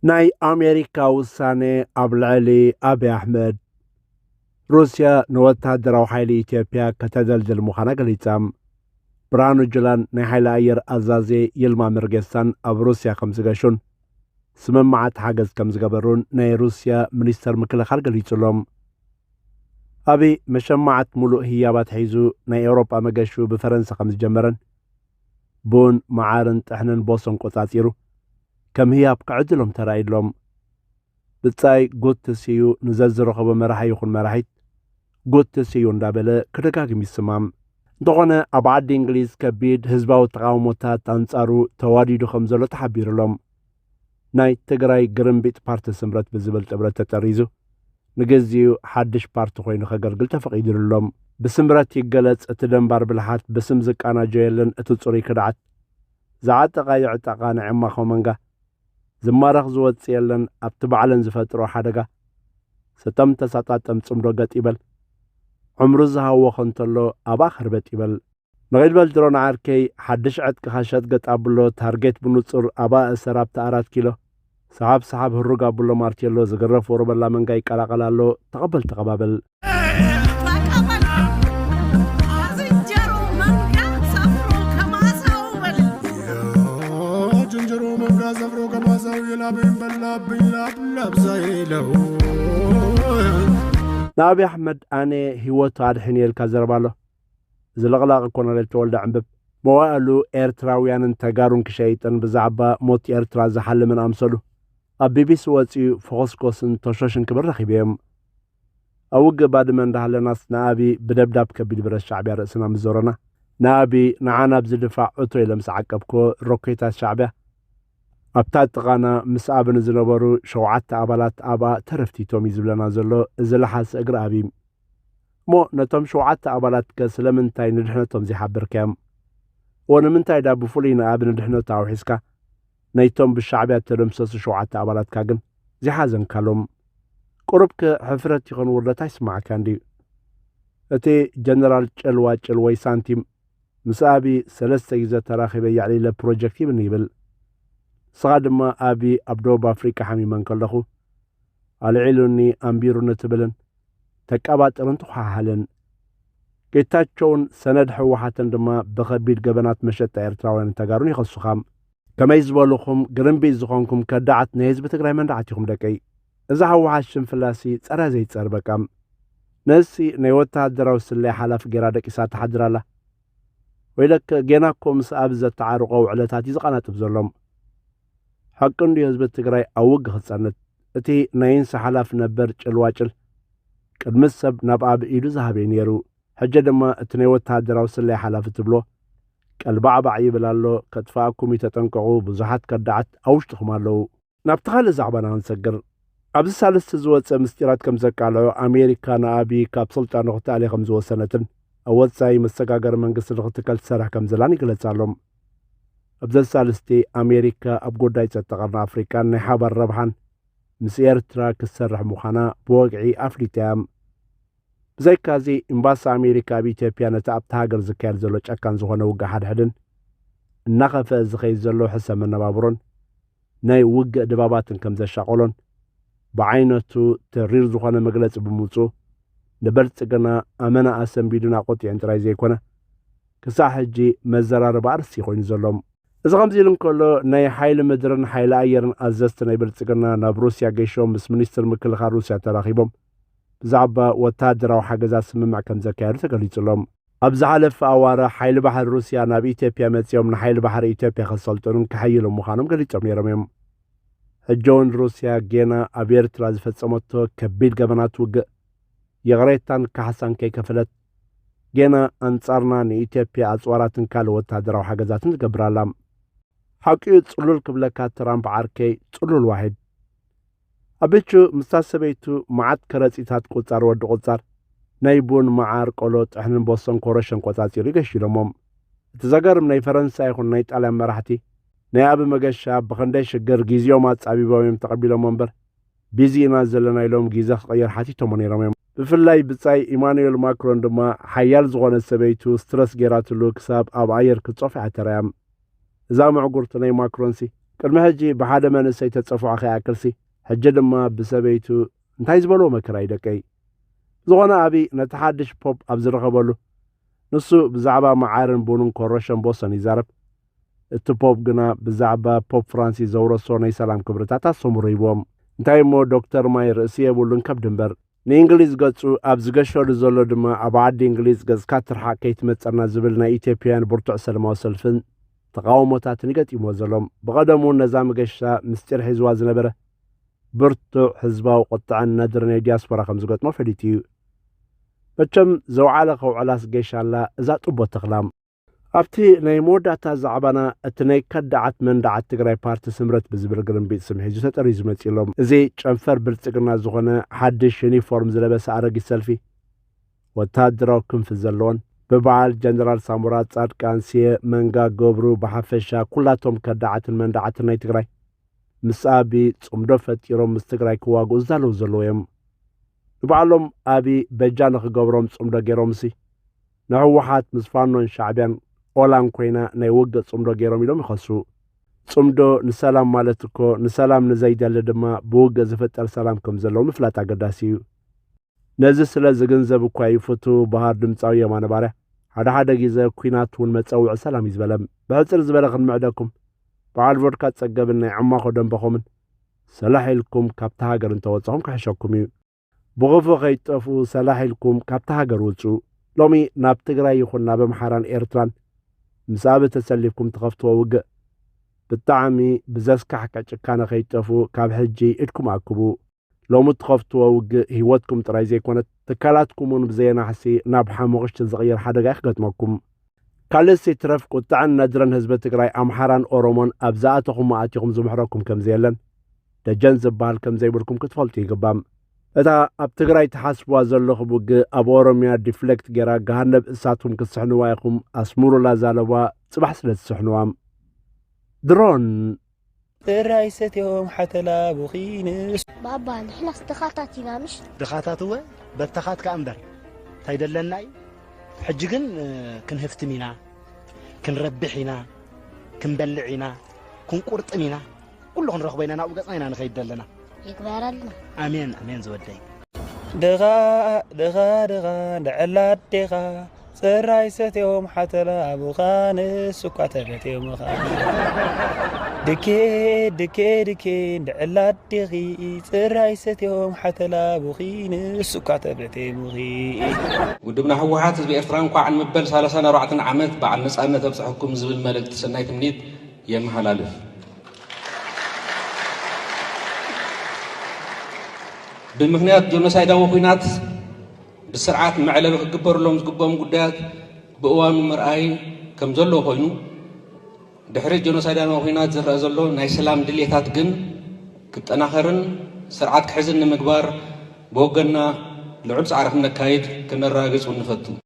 ናይ ኣሜሪካ ውሳነ ኣብ ልዕሊ ኣብዪ ኣሕመድ ሩስያ ንወተሃደራዊ ሓይሊ ኢትዮጵያ ከተደልድል ምዃና ገሊጻ። ብርሃኑ ጁላን ናይ ሓይሊ ኣየር ኣዛዚ ይልማ መርጌሳን ኣብ ሩስያ ከም ዝገሹን ስምምዓት ሓገዝ ከም ዝገበሩን ናይ ሩስያ ሚኒስተር ምክልኻል ገሊጹ ኣሎ። ኣብዪ መሸማዓት ምሉእ ህያባት ሒዙ ናይ ኤውሮጳ መገሹ ብፈረንሳ ከም ዝጀመረን ቡን፣ መዓርን ጥሕንን ቦሶን ቆጻጺሩ ከም ህያብ ክዕድሎም ተራእዩሎም። ብጻይ ጉቲ ስዩ ንዘዝረኸቦ መራሒ ይኹን መራሒት ጉቲ ስዩ እንዳበለ ክደጋግም ይስማም። እንተኾነ ኣብ ዓዲ እንግሊዝ ከቢድ ህዝባዊ ተቓውሞታት ኣንጻሩ ተዋዲዱ ከም ዘሎ ተሓቢሩሎም። ናይ ትግራይ ግርምቢጥ ፓርቲ ስምረት ብዝብል ጥምረት ተጠሪዙ ንግዚኡ ሓድሽ ፓርቲ ኮይኑ ከገልግል ተፈቒድሉሎም። ብስምረት ይገለፅ እቲ ደንባር ብልሓት ብስም ዝቃናጆ የለን እቲ ፅሩይ ክድዓት ዝዓጠቓ ይዕጠቓ ናይ ዕማኾ መንጋ ዝማረኽ ዝወፅእ የለን ኣብቲ ባዕለን ዝፈጥርኦ ሓደጋ ስጠም ተሳጣጠም ፅምዶ ገጥ ይበል ዕምሩ ዝሃወኸ እንተሎ ኣብኣ ከርበጥ ይበል። ንቂል በል ድሮን ዓርከይ ሓድሽ ዕጥቅኻ ሸጥ ገጥ ኣብሎ ታርጌት ብኑጹር ኣብኣ እሰር ኣብታ ኣራት ኪሎ ሰሓብ ሰሓብ ህሩግ ኣብሎ ማርቴሎ ዝግረፍ ወሮበላ መንጋ ይቀላቀል ኣሎ ተቀበል ተቀባበል። ንኣብይ ኣሕመድ ኣነ ሂወቱ ኣድሕንየ ኢልካ ዘረባ ኣሎ እዚ ለቕላቒ ኮነሬል ተወልደ ዕንብብ መዋእሉ ኤርትራውያንን ተጋሩን ክሸይጥን ብዛዕባ ሞት ኤርትራ ዝሓልምን ኣምሰሉ ኣብ ቢቢሲ ወጺኡ ፈኾስኮስን ቶሾሽን ክብል ረኺበዮም። ኣብ ውግእ ባድመ እንዳሃለናስ ንኣብይ ብደብዳብ ከቢድ ብረት ሻዕቢያ ርእስና ምስ ዞረና ንኣብይ ንዓ ናብዚ ድፋዕ እቶ ኢለ ምስ ዓቀብክዎ ሮኬታት ሻዕቢያ ኣብታ ጥቓና ምስ ኣብን ንዝነበሩ ሸውዓተ ኣባላት ኣብኣ ተረፍቲቶም እዩ ዝብለና ዘሎ እዚ ለሓሲ እግሪ ኣብይ እሞ ነቶም ሸውዓተ ኣባላትከ ስለምንታይ ንድሕነቶም ዘይሓበርካዮም? እወ ንምንታይ ድኣ ብፍሉይ ንኣቢ ንድሕነቱ ኣውሒስካ፣ ነይቶም ብሻዕብያ እተደምሰሱ ሸውዓተ ኣባላትካ ግን ዘይሓዘንካሎም? ቁሩብከ ሕፍረት ይኹን ውርደት ኣይስማዓካን ድዩ? እቲ ጀነራል ጭልዋጭል ወይ ሳንቲም ምስ ኣቢ ሰለስተ ግዜ ተራኺበ የዕሊለ ፕሮጀክት ሂብኒ ይብል። ንስኻ ድማ ኣቢ ኣብ ደቡብ ኣፍሪቃ ሓሚመ እንከለኹ ኣልዒሉኒ ኣንቢሩኒ ትብልን ተቃባጥርን ትዃሃሃልን። ጌታቸውን ሰነድ ህወሓትን ድማ ብኸቢድ ገበናት መሸጣ ኤርትራውያንን ተጋሩን ይኸሱኻ። ከመይ ዝበሉኹም ግርምቢጥ ዝኾንኩም ከዳዓት ናይ ህዝቢ ትግራይ መንድዓት ኢኹም ደቀይ። እዛ ህወሓት ሽንፍላሲ ጸረ ዘይጸር በቃ። ነዝሲ ናይ ወተሃደራዊ ስለያ ሓላፊ ጌራ ደቂሳ ትሓድር ኣላ። ወይለከ ጌና እኮ ምስ ኣብይ ዘተዓርቆ ውዕለታት እዩ ዝቀናጥብ ዘሎ። ሐቂ እንድዩ ህዝቢ ትግራይ ኣብ ውግ ክፀንት እቲ ናይ ኢንሳ ሓላፊ ነበር ጭልዋጭል ቅድምስ ሰብ ናብ ኣብይ ኢዱ ዝሃበ እዩ ነይሩ ሕጀ ድማ እቲ ናይ ወተሃደራዊ ስለያ ሓላፊ ትብሎ ቀልባዕባዕ ይብል ኣሎ ከጥፈኣኩም እዩ ተጠንቀቁ ብዙሓት ከዳዓት ኣብ ውሽጥኹም ኣለዉ። ናብቲ ካልእ ዛዕባና ክንሰግር። ኣብዚ ሳልስቲ ዝወጸ ምስጢራት ከም ዘቃልዖ ኣሜሪካ ንኣብዪ ካብ ስልጣኑ ክትኣሊ ከም ዝወሰነትን ኣብ ወጻኢ መሰጋገሪ መንግስቲ ንክትከል ትሰርሕ ከም ዘላን ይግለጽ ኣሎ። ኣብዚ ኣሳልስቲ ኣሜሪካ ኣብ ጉዳይ ጸጥታ ቀርኒ ኣፍሪቃን ናይ ሓባር ረብሓን ምስ ኤርትራ ክትሰርሕ ምዃና ብወግዒ ኣፍሊጣ እያ። ብዘይካዚ ኤምባሲ ኣሜሪካ ኣብ ኢትዮጵያ ነቲ ኣብቲ ሃገር ዝካየድ ዘሎ ጨካን ዝኾነ ውግእ ሓድሕድን እናኸፍአ ዝኸይድ ዘሎ ሕሰ መነባብሮን ናይ ውግእ ድባባትን ከም ዘሻቐሎን ብዓይነቱ ተሪር ዝኾነ መግለፂ ብምውፅኡ ንበልፅግና ኣመና ኣሰንቢዱን ኣቖጢዑን ጥራይ ዘይኮነ ክሳዕ ሕጂ መዘራረቢ ኣርእስቲ ኮይኑ ዘሎ። እዚ ከምዚ ኢሉ እንከሎ ናይ ሓይሊ ምድርን ሓይሊ ኣየርን ኣዘዝቲ ናይ ብልፅግና ናብ ሩስያ ገይሾም ምስ ሚኒስትር ምክልኻል ሩስያ ተራኺቦም ብዛዕባ ወታሃደራዊ ሓገዛት ስምምዕ ከም ዘካየዱ ተገሊፁ ኣሎ። ኣብ ዝሓለፈ ኣዋርሕ ሓይሊ ባሕሪ ሩስያ ናብ ኢትዮጵያ መጺኦም ንሓይሊ ባሕሪ ኢትዮጵያ ከሰልጥኑን ከሐይሉን ምዃኖም ገሊጾም ነይሮም እዮም። ሕጂ እውን ሩስያ ጌና ኣብ ኤርትራ ዝፈጸመቶ ከቢድ ገበናት ውግእ ይቕሬታን ካሕሳን ከይከፈለት ጌና ኣንጻርና ንኢትዮጵያ ኣጽዋራትን ካልእ ወተሃደራዊ ሓገዛትን ትገብር ኣላ። ሓቂኡ ጽሉል ክብለካ ትራምፕ ዓርከይ ጽሉል ዋሒድ። ኣበቹ ምስታ ሰበይቱ መዓት ከረጺታት ቁጻር ወዲ ቁጻር ናይ ቡን መዓር ቆሎ ጥሕንን ቦሶን ኮረሸን ቆጻጺሩ እዩ ገሺሎሞም እቲ ዘገርም ናይ ፈረንሳ ይኹን ናይ ጣልያን መራሕቲ ናይ ኣቢ መገሻ ብኽንደይ ሽግር ጊዚኦም ኣጻቢቦም እዮም ተቐቢሎሞ እምበር ቢዚ ኢና ዘለና ኢሎም ጊዘ ክቕይር ሓቲቶሞ ነይሮም እዮም ብፍላይ ብጻይ ኢማኑኤል ማክሮን ድማ ሓያል ዝኾነት ሰበይቱ ስትረስ ገይራትሉ ክሳብ ኣብ ኣየር ክትጾፍ እያ ተራእያ። እዛ ምዕጉርት ናይ ማክሮንሲ ቅድሚ ሕጂ ብሓደ መንእሰይ ተጸፉዓ ከይኣክልሲ ሕጂ ድማ ብሰበይቱ እንታይ ዝበልዎ መከራ እዩ ደቀይ። ዝኾነ ኣቢ ነቲ ሓድሽ ፖፕ ኣብ ዝረኸበሉ ንሱ ብዛዕባ መዓርን ቡንን ኮረሾን ቦሰን ይዛረብ እቲ ፖፕ ግና ብዛዕባ ፖፕ ፍራንሲስ ዘውረሶ ናይ ሰላም ክብርታት ኣስተምህሮ ሂብዎም። እንታይ እሞ ዶክተር ማይ ርእሲ የብሉን ከብዲ እምበር። ንእንግሊዝ ገጹ ኣብ ዝገሸሉ ዘሎ ድማ ኣብ ዓዲ እንግሊዝ ገጽካ ትርሓቅ ከይትመጸና ዝብል ናይ ኢትዮጵያውያን ብርቱዕ ሰለማዊ ሰልፍን ተቓውሞታትን እዩ ገጢምዎ ዘሎ። ብቐደሙ እውን ነዛ መገሻ ምስጢር ሒዝዋ ዝነበረ ብርቱዕ ህዝባዊ ቁጥዐን ነድሪ ናይ ዲያስፖራ ከም ዝገጥሞ ፈሊጡ እዩ። መቸም ዘውዓለ ከውዕላስ ጌሻ ኣላ እዛ ጡቦ ተኽላ። ኣብቲ ናይ መወዳእታ ዛዕባና እቲ ናይ ከዳዓት መንዳዓት ትግራይ ፓርቲ ስምረት ብዝብል ግርምቢጥ ስም ሒዙ ተጠሪዙ መፂኡ ኣሎ። እዚ ጨንፈር ብልፅግና ዝኾነ ሓድሽ ዩኒፎርም ዝለበሰ ኣረጊት ሰልፊ ወታደራዊ ክንፊ ዘለዎን ብበዓል ጀነራል ሳሞራ፣ ፃድቃን፣ ስየ፣ መንጋ፣ ገብሩ ብሓፈሻ ኩላቶም ከዳዓትን መንዳዓትን ናይ ትግራይ ምስ ኣቢ ፅምዶ ፈጢሮም ምስ ትግራይ ክዋግኡ ዝዳለዉ ዘለዉ እዮም። ንባዕሎም ኣቢ በጃ ንኽገብሮም ፅምዶ ገይሮምሲ ንህወሓት ምስ ፋኖን ሻዕቢያን ኦላን ኮይና ናይ ውግእ ጽምዶ ገይሮም ኢሎም ይኸሱ። ጽምዶ ንሰላም ማለት እኮ ንሰላም ንዘይደሊ ድማ ብውግእ ዝፍጠር ሰላም ከም ዘለዎ ምፍላጥ ኣገዳሲ እዩ። ነዚ ስለ ዝግንዘብ እኳ እዩ ፍቱው በሃር ድምጻዊ የማነ ባርያ ሓደ ሓደ ግዘ ኩናት እውን መጸውዒ ሰላም እዩ ዝበለም። ብሕጽር ዝበለ ክንምዕደኩም በዓል ቮድካ ጸገብን ናይ ዕማኾ ደንበኹምን ሰላሕ ኢልኩም ካብታ ሃገር እንተወጻኹም ክሕሸኩም እዩ። ብኹፉ ከይትጠፍኡ ሰላሕ ኢልኩም ካብታ ሃገር ውጹ። ሎሚ ናብ ትግራይ ይኹን ናብ ኣምሓራን ኤርትራን ምስ ኣቢ ተሰሊፍኩም ትኸፍትዎ ውግእ ብጣዕሚ ብዘስካሕክሕ ጭካነ ከይትጠፍኡ ካብ ሕጂ ኢድኩም ኣክቡ። ሎሚ እትኸፍትዎ ውግእ ህይወትኩም ጥራይ ዘይኮነት ትካላትኩም እውን ብዘየናሕሲ ናብ ሓሙኽሽቲ ዝቕየር ሓደጋ እዩ ክገጥመኩም። ካልእስ ይትረፍ ቁጥዐን ነድርን ህዝቢ ትግራይ ኣምሓራን ኦሮሞን ኣብ ዝኣተኹሞ ኣቲኹም ዝምሕረኩም ከምዘየለን ደጀን ዝበሃል ከምዘይብልኩም ክትፈልጡ ይግባም። እታ ኣብ ትግራይ ትሓስብዋ ዘለኹም ውግእ ኣብ ኦሮምያ ዲፍሌክት ጌራ ገሃነብ እሳትኩም ክትስሕንዋ ኢኹም ኣስምሩላ ዛለባ ጽባሕ ስለ ትስሕንዋ ድሮን እረ ኣይሰትዮም ሓተላ ቡኺ ንእስ። ባባ ንሕናስ ድኻታት ኢና ምሽ። ድኻታት እወ በተኻት ከኣ እምበር እንታይ ደለና እዩ ሕጂ ግን ክንህፍትም ኢና ክንረብሕ ኢና ክንበልዕ ኢና ክንቁርጥም ኢና ኩሉ ክንረኽቦ ኢና ናብኡ ገጽና ኢና ንኸይድ ደለና ይግበረልና። ኣሜን ኣሜን ዝወደይ። ድኻ ድኻ ድኻ ልዕል ኣዴኻ ፅራይ ሰትዮም ሓተላ ኣቡኻ ንሱኳ ተበትዮ ምኻ ድኬ ድኬ ድኬ ልዕል ኣዴኺ ፅራይ ሰትዮም ሓተላ ኣቡኺ ንሱኳ ተበትዮ ምኺ ውድብና ህወሓት ህዝቢ ኤርትራ እንኳዕ ንመበል 34 ዓመት በዓል ነፃነት ኣብፀሐኩም ዝብል መልእክቲ ሰናይ ትምኒት የመሓላልፍ። ብምኽንያት ጆኖሳይዳዊ ኹናት ብስርዓት መዕለቢ ክግበርሎም ዝግብኦም ጉዳያት ብእዋኑ ምርኣይ ከም ዘለዎ ኮይኑ ድሕሪ ጆኖሳይዳዊ ኹናት ዝረኣ ዘሎ ናይ ሰላም ድሌታት ግን ክጠናኸርን ስርዓት ክሕዝን ንምግባር ብወገንና ልዑል ፃዕሪ ክነካይድ ከነረጋግፅ እውን ንፈቱ።